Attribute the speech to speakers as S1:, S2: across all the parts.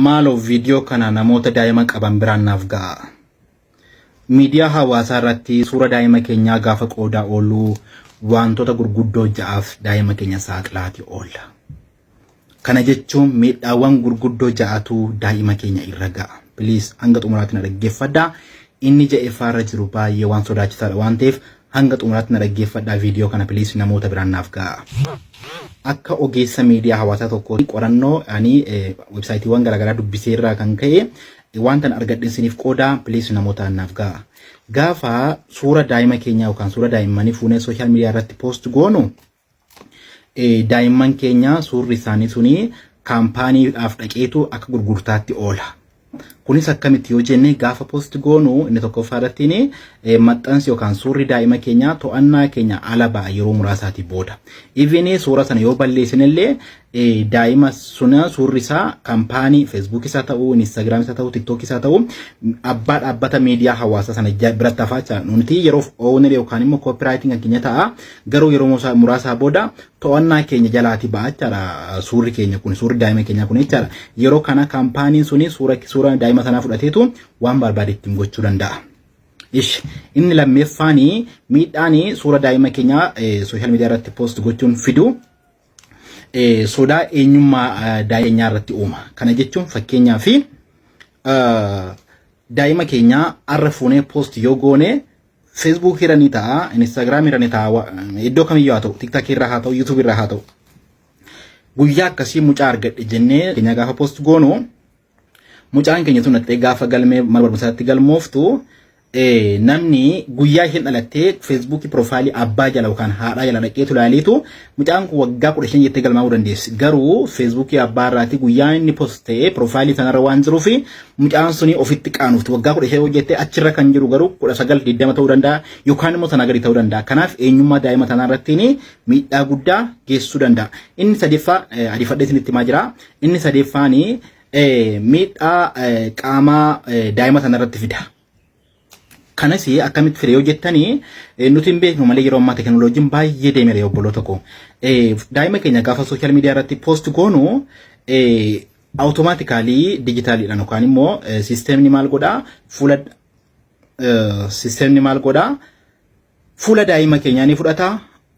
S1: maaloo viidiyoo kana namoota daa'ima qaban biraan naaf ga'a. Miidiyaa hawaasaa irratti suura daa'ima keenyaa gaafa qoodaa ooluu wantoota gurguddoo ja'aaf daa'ima keenya saaxilaati oolla. Kana jechuun miidhaawwan gurguddoo ja'atu daa'ima keenya irra ga'a. Please hanga xumuraatti na dhaggeeffadha. Inni ja'effaa irra jiru baay'ee waan sodaachisaadha waan ta'eef hanga xumuraatti na dhaggeeffadhaa viidiyoo kana please namoota biraan naaf ga'a. Akka ogeessa miidiyaa hawaasaa tokkoo qorannoo ani websaayitiiwwan garaagaraa dubbisee irraa kan ka'e wantan argadhen siniif qoodaa please namoota naaf ga'a. Gaafa suura daa'ima keenyaa yookaan suura daa'immanii fuunee sooshaal miidiyaa irratti poost goonu daa'imman keenya suurri isaanii suni kaampaaniidhaaf dhaqeetu akka gurgurtaatti oola. Kunis akkamitti yoo jenne gaafa post goonu inni tokkoffaa irratti maxxansi yookaan suurri daa'ima keenyaa to'annaa keenya ala ba'a yeroo muraasaatii booda. Iviin suura sana yoo balleessinillee daa'ima suna suurri isaa kampaanii feesbuukii isaa ta'uu inistaagiraamii isaa ta'uu tiktookii isaa ta'uu abbaa dhaabbata miidiyaa hawaasaa sana biratti hafaa jira nuti yeroof ooner yookaan immoo koopiraayitiin kan keenya ta'a garuu yeroo muraasaa booda to'annaa keenya jalaati ba'a jechaadha suurri keenya kun suurri daa'ima keenyaa kun jechaadha yeroo kana kampaaniin suni suura suura daa'ima sanaa fudhateetu waan barbaade ittiin gochuu danda'a. Ish inni lammeeffaanii miidhaanii suura daa'ima keenyaa sooshaal miidiyaa irratti poost gochuun fiduu eh, sodaa eenyummaa eh, daa'ima keenyaa irratti uuma. Kana jechuun fakkeenyaa fi eh, daa'ima keenyaa arra fuunee post yoo goone Facebook irra ni ta'a, Instagram irra ni ta'a, wa- iddoo kamiyyuu haa ta'u, TikTok irra haa ta'u, YouTube irra haa ta'u. Guyyaa akkasii mucaa argadhe jennee keenya gaafa post goonu Mucaan keenya tun dhattee gaafa galmee mana barumsaatti galmooftu eh, namni guyyaa isheen dhalattee feesbuukii piroofaayilii abbaa jala yookaan haadhaa jala dhaqeetu ilaaliitu mucaan kun waggaa kudha shan jettee galmaa'uu dandeessi. Garuu feesbuukii abbaa irraati guyyaa inni post ta'ee piroofaayilii sanarra waan jiruufi mucaan suni ofitti qaanofti waggaa kudha shan hojjettee achirra kan jiru garuu kudha sagal digdama ta'uu danda'a yookaan immoo sanaa gadi ta'uu danda'a. Kanaaf eenyummaa daa'ima sanaa irrattiin miidhaa guddaa geessisuu danda'a. Inni sadiffaa eh, ariifadhee isinitti himaa jira. Inni sadeeffaan miidhaa qaamaa daa'ima sana irratti fida. Kanas akkamitti fide yoo jettanii nuti hin beeknu malee yeroo ammaa teekinooloojiin baay'ee deemeera obboloota koo. Daa'ima keenya gaafa sooshaal miidiyaa irratti poost goonu awutomaatikaalii dijitaaliidhaan yookaan immoo siisteemni maal godhaa fuula siisteemni maal godhaa Fuula daa'ima keenyaa ni fudhata,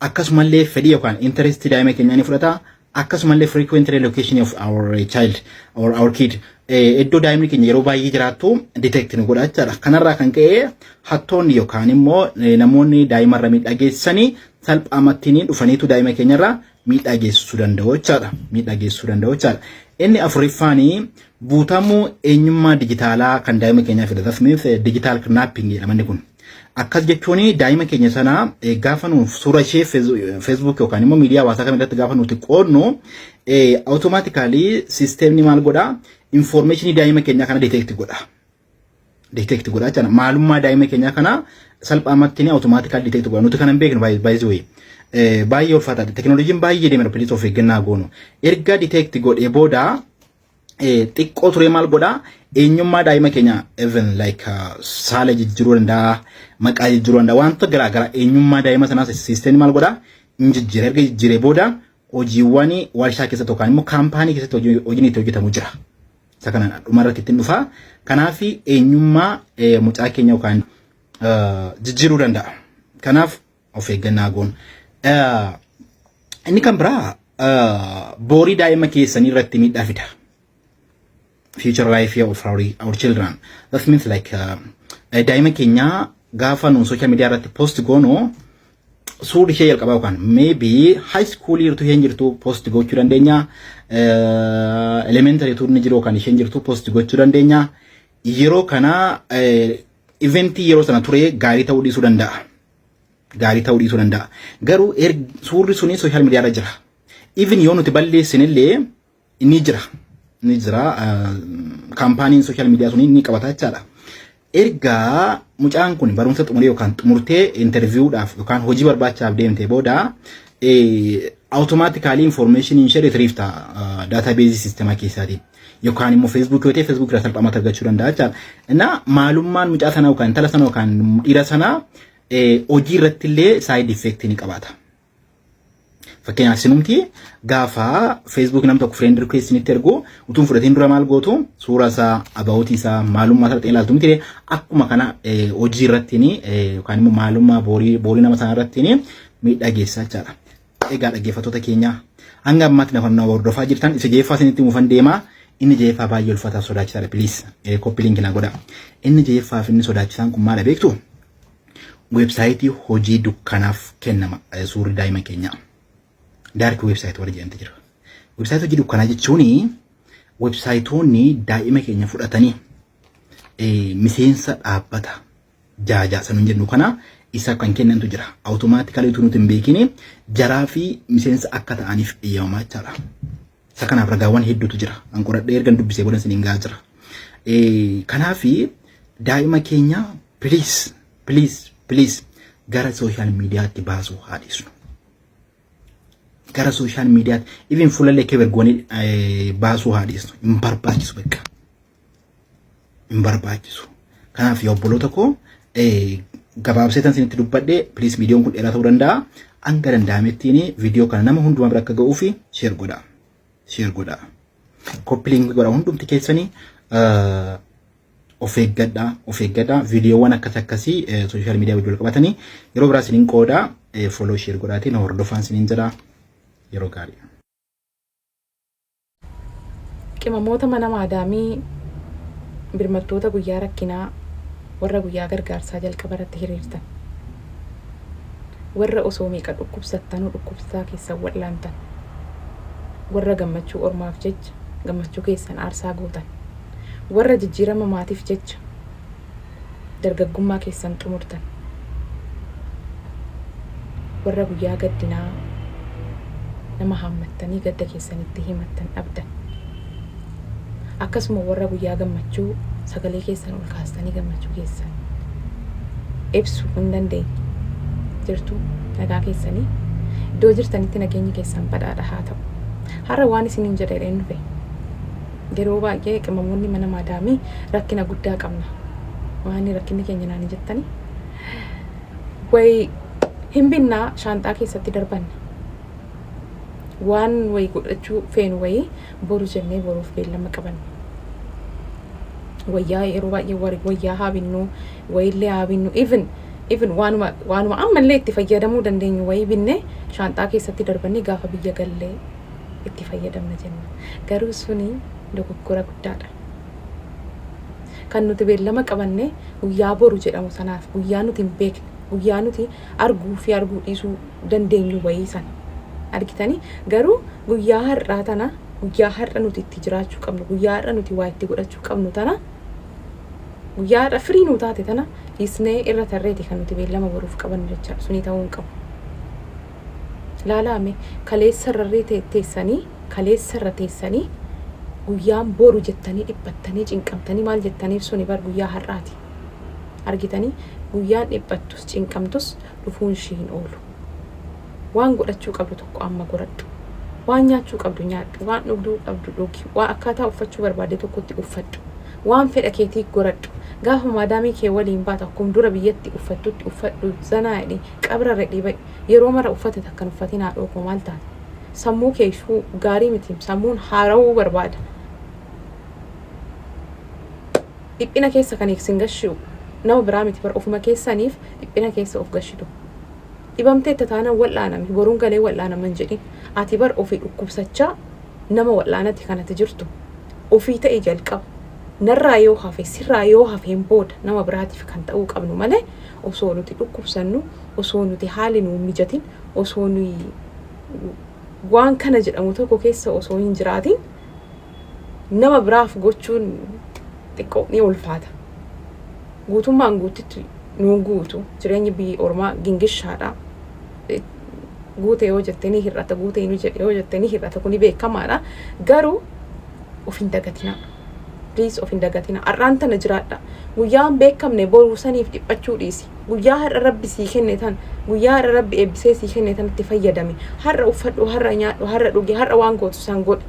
S1: akkasumallee fedhii yookaan interest daa'ima keenyaa ni fudhata, akkasumallee frequent relocation of our child or our kid eh, iddoo daa'imni keenya yeroo baay'ee jiraattu detect nu godha jechaadha. Kanarraa kan ka'e hattoonni yookaan immoo eh, namoonni daa'imarra miidhaa geessisanii salphaamatti ni dhufaniitu daa'ima keenyarra miidhaa geessisuu danda'u jechaadha. Miidhaa geessisuu danda'u jechaadha. Inni afuriffaan guutamuu eenyummaa dijitaalaa kan daa'ima keenyaa fida. That means digital kidnapping jedhama inni kun. Akkas jechuun daa'ima keenya sana gaafa nuuf suura ishee Facebook yookaan immoo miidiyaa hawaasaa kam irratti gaafa nuti qoodnu automatically sisteemni maal godha information daa'ima keenyaa kana detect godha. detect godha jechuudha. Maalummaa daa'ima keenyaa kanaa salphaamatti ni automaatikali detect godha. Nuti kan hin beeknu baay'ee wayii. Baay'ee ulfaataadha. Tekinooloojiin baay'ee deemera pilis of eeggannaa goonu. Erga detect godhee booda xiqqoo turee maal godha eenyummaa daa'ima keenya even like saala jijjiiruu danda'a maqaa jijjiiruu danda'a wantoota garaa garaa eenyummaa daa'ima sanaa siisteen maal godha hin jijjiire erga jijjiiree booda hojiiwwan warshaa keessatti yookaan immoo kaampaanii keessatti hojiin itti hojjetamu jira. Isa kana dhuma irratti ittiin dhufa. Kanaaf eenyummaa eh, mucaa keenya yookaan eh, jijjiiruu danda'a. Kanaaf of eeggannaa goon. Eh, Inni kan biraa eh, boorii daa'ima keessanii irratti miidhaa fida. future life of our, our children. That means like uh, eh, daa'ima keenya gaafa nuun social media irratti post goonu suurri ishee jalqabaa yookaan maybe high school jirtu isheen jirtu post gochuu dandeenya. Elementary tuun ni jiru kan isheen jirtu post gochuu dandeenya. Yeroo kana eventii yeroo sana ture gaarii ta'uu dhiisuu danda'a. Gaarii ta'uu dhiisuu danda'a. Garuu suurri suni sooshaal miidiyaarra jira. Even yoo nuti balleessinillee Inni jira. Inni jira. Kaampaaniin sooshaal miidiyaa sun inni qabata jechaadha. Erga mucaan kun barumsa xumuree yookaan xumurtee interviiwudhaaf yookaan hojii barbaachaaf deemtee booda awutomaatikaalii infoormeeshiniin ishee retriif ta'a daataabeezii siistemaa keessaatiin. Yookaan immoo feesbuukii yoo ta'e feesbuukii irraa salphaamatti argachuu danda'a jechaadha. Innaa maalummaan mucaa sanaa yookaan intala sanaa yookaan dhiira sanaa hojii irratti illee saayid effeektii ni qabaata. Fakkeenyaaf sinumti gaafa Facebook nam tokko friend request isinitti ergu utuun fudhatiin dura maal gootu suuraa isaa about isaa maalummaa isaa ta'e ilaaltu miti akkuma kana hojii irrattiin yookaan immoo maalummaa boorii boorii nama sana irrattiin miidhaa geessaa jechaadha. Egaa dhaggeeffattoota keenya hanga ammaatti nafa nama hordofaa jirtan isa jeeffaa isinitti mufan deemaa inni jeeffaa baay'ee ulfaataa sodaachisaadha piliis koppi liinki naa godha inni jeeffaa fi inni sodaachisaan kun maala beektu Weebsaayitii hojii dukkanaaf kennama eh, suurri daa'ima keenyaa. Daarki weebsaayit warri jedhamte jira. Weebsaayitii hojii dukkanaa jechuun weebsaayitoonni daa'ima keenya fudhatanii eh, miseensa dhaabbata jaajaa sanuun jennu kana isaaf kan kennantu jira. Awutomaatikaalii utuu nuti hin beekini jaraa fi miseensa akka ta'aniif eeyyamamaa jechaadha. Isa kanaaf ragaawwan hedduutu jira. An qoradhee ergan dubbisee booda isiniin gahaa jira. Kanaaf daa'ima keenya piliis piliis piliis gara sooshaal miidiyaatti baasuu haa dhiisnu. Gara sooshaal miidiyaatti even fuulallee kebergoonii baasuu haa dhiisnu. Hin barbaachisu bakka. hin barbaachisu. Kanaaf yaa obboloota koo gabaabsee tan isinitti dubbadhe please viidiyoon kun dheeraa ta'uu danda'a. Hanga danda'amettiin viidiyoo kana nama hundumaa bira akka ga'uu fi sheer godha. Sheer godha. Koppiliin godha hundumti keessanii of eeggadha of eeggadha viidiyoowwan akkas akkasii sooshaal miidiyaa wajjin qabatanii yeroo biraa isiniin qooda fooloo sheer godhaatiin hordofaan isiniin jedha yeroo gaarii.
S2: Qimamoota mana maadaamii birmattoota guyyaa rakkinaa warra guyyaa gargaarsaa jalqaba irratti hiriirtan. Warra osoo meeqa dhukkubsattanuu dhukkubsataa keessan wal'aantan. Warra gammachuu ormaaf jecha gammachuu keessan aarsaa gootan. Warra jijjiirama maatiif jecha. dargaggummaa keessan xumurtan, warra guyyaa gaddinaa nama haammattanii gadda keessan itti himattan dhabdan, akkasuma warra guyyaa gammachuu sagalee keessan ol kaastanii gammachuu keessan ibsu hin dandeenye jirtu nagaa keessanii iddoo jirtanitti nageenyi keessan badhaadha haa ta'u. Har'a waan isiniin jedhe dheen dhufe Yeroo baay'ee qimamoonni mana maadaamii rakkina guddaa qabna. Maani rakkinni keenya naani jettani? Wayi hin binna shaanxaa keessatti darbanna. Waan wayi godhachuu feenu wayi boru jennee boruuf beellama qabanna. Wayyaa yeroo baay'ee wari wayyaa haa binnu, wayillee haa binnu, even even waanuma waanuma ammallee itti fayyadamuu dandeenyu wayi binnee shaanxaa keessatti darbannee gaafa biyya gallee itti fayyadamna jenna. Garuu suni dogoggora guddaadha. Kan nuti beellama qabanne guyyaa boru jedhamu sanaaf, guyyaa nuti hin beekne, guyyaa nuti arguu fi arguu dhiisuu dandeenyu wayii sana. Argitanii? Garuu guyyaa har'aa tana, guyyaa har'a nuti itti jiraachuu qabnu, guyyaa har'a nuti waa itti godhachuu qabnu tana, guyyaa har'a firii nuu taate tana dhiisnee irra tarreeti kan nuti beellama boruuf qabannu jechaadha. Suni ta'uu hin qabu. Laalaa mee, kaleessa irra irree te, teessanii, kaleessa irra teessanii, guyyaan boru jettanii dhiphattanii, cinqamtanii maal jettaniif suni bar guyyaa har'aati. Argitanii? Guyyaan dhiphattus, cinqamtus dhufuun ishii hin oolu. Waan godhachuu qabdu tokko amma goradhu. Waan nyaachuu qabdu nyaadhu, waan dhugduu qabdu dhugi, waa akkaataa uffachuu barbaadde tokkotti uffadhu. Waan fedha keetii goradhu. Gaafa maadaamii kee waliin baatu akkum dura biyyatti uffattutti uffadhu, zanaa jedhi, qabra redhi ba'i. Yeroo mara uffata takka hin uffatin haadhoo koo maal taate? Sammuu kee sh gaarii miti sammuun haarawuu barbaada. Dhiphina keessa kan sin gashiu nama biraa miti bar ofuma keessaniif dhiphina keessa of gashitu. Dhibamteetta taanaan wal'aanami boruun galee wal'aanama hin jedhin. Ati bar ofii dhukkubsachaa nama wal'aanati kan ati jirtu. Ofii ta'i jalqaba. Narraa yoo hafe sirraa yoo hafeen booda nama biraatiif kan ta'uu qabnu malee osoo nuti dhukkubsannu osoo nuti haalli nuu hin mijatin osoo nuyi waan kana jedhamu tokko keessa osoo hin jiraatin nama biraaf gochuun xiqqoo ni ulfaata. Guutummaan guuttitti nuu hin guutu. Jireenyi biyya ormaa gingishaadha. Guute yoo jette ni hir'ata, guute hin hojjedhe yoo jette ni hir'ata. Kuni beekamaadha. Garuu of hin dagatinaa. Please of hin dagatinaa. Har'aan tana jiraadha. Guyyaa hin beekamne boruu saniif dhiphachuu dhiisi. Guyyaa har'a Rabbi sii kenne tan, guyyaa har'a Rabbi eebbisee sii kenne tanatti fayyadami. Har'a uffadhu, har'a nyaadhu, har'a dhugi, har'a waan gootu san godhi.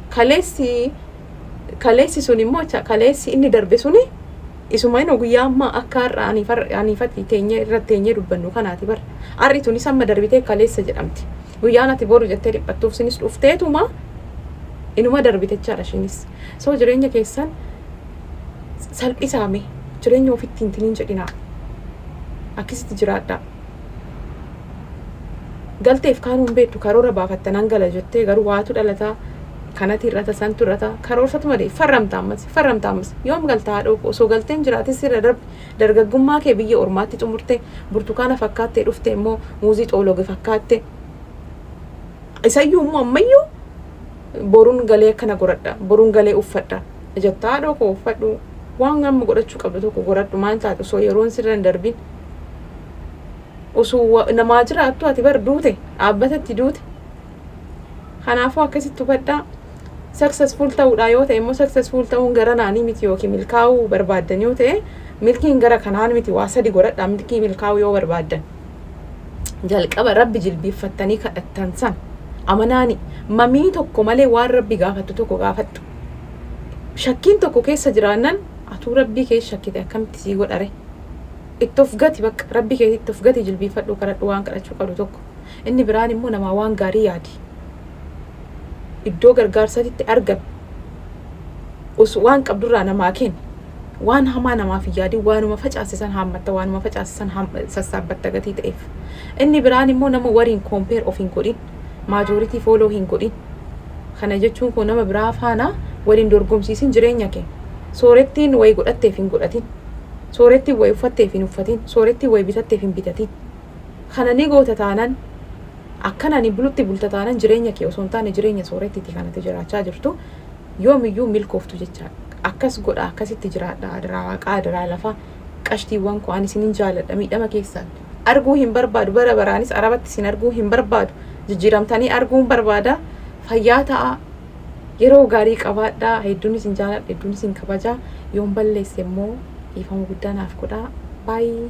S2: Kaleessi kaleessi sun immoo acha kaleessi inni darbe suni isuma inoo guyyaa ammaa akka har'a aniif har'a- aniif ati teenyee irratti teenyee dubbannu kanaati bar. Har'i tuni samma darbitee kaleessa jedhamti. Guyyaan ati boru jettee dhiphattuuf sinis dhufteetuma inuma darbite jechaadha ishiinis. So jireenya keessan salphisaa mee jireenya ofitti hin tiniin jedhinaa akkisitti jiraadhaa galteef kaanuu hin beektu karoora baafatta nan gala jettee garuu waatu dhalataa kanati irrata santu irrata karoorfatu malee farramta ammas farramta ammas yoom galta haadhoo koo osoo galteen jiraate sirra darbe dargaggummaa kee biyya ormaatti xumurte burtukaana fakkaattee dhufte immoo muuzii xoologe fakkaatte isayyuu immoo ammayyuu boruun galee akkana goradha boruun galee uffadha jettaa haadhoo koo uffadhu waan amma godhachuu qabdu tokko godhadhu maal taate osoo yeroon sirra hin darbin osoo wa- namaa jiraattu ati bar duute dhaabbatatti duute kanaafuu akkasitti hubadhaa successful ta'uudhaa yoo ta'e immoo successful ta'uun gara naanii miti yookiin milkaa'uu barbaaddan yoo ta'e milkiin gara kanaan miti waa sadi godhadhaa milkii milkaa'uu yoo barbaaddan jalqaba rabbi jilbiiffattanii kadhattan san amanaani mamii tokko malee waan rabbi gaafattu tokko gaafattu shakkiin tokko keessa jiraannan atuu rabbii kee shakkite akkamitti sii godhare itti of gati bakka rabbii kee itti of gati jilbiifadhu kadhadhu waan kadhachuu qabdu tokko inni biraan immoo namaa waan gaarii yaadi iddoo gargaarsatitti argame us waan qabdurraa namaa kenni waan hamaa namaaf hin yaadin waanuma facaasisan haammatta waanuma facaasisan sassaabatta gatii ta'eef inni biraan immoo nama wariin koompeer of hin godhin Majority follow hin godhin. Kana jechuun koo nama biraa faana wal hin dorgomsiisin jireenya kee. Soorettiin wayi godhatteef hin godhatin. Soorettiin wayi uffatteef hin uffatin. Soorettiin wayi bitatteef hin bitatin. Kana ni goota taanan akkana ni bulutti bulta taanan jireenya kee osoo hin taane jireenya soorettiti kanatti jiraachaa jirtu yoomiyyuu milkooftu jechaadha. Akkas godha akkasitti jiraadha adaraa waaqaa adaraa lafaa. qashtiiwwan koo ani isinin jaaladha miidhama keessaan arguu hin barbaadu bara baraanis arabatti isin arguu hin barbaadu jijjiiramtanii arguun barbaada fayyaa ta'a yeroo gaarii qabaadhaa hedduun isin jaaladha hedduun isin kabajaa yoon balleesse immoo dhiifama guddaa naaf godhaa baay'ee.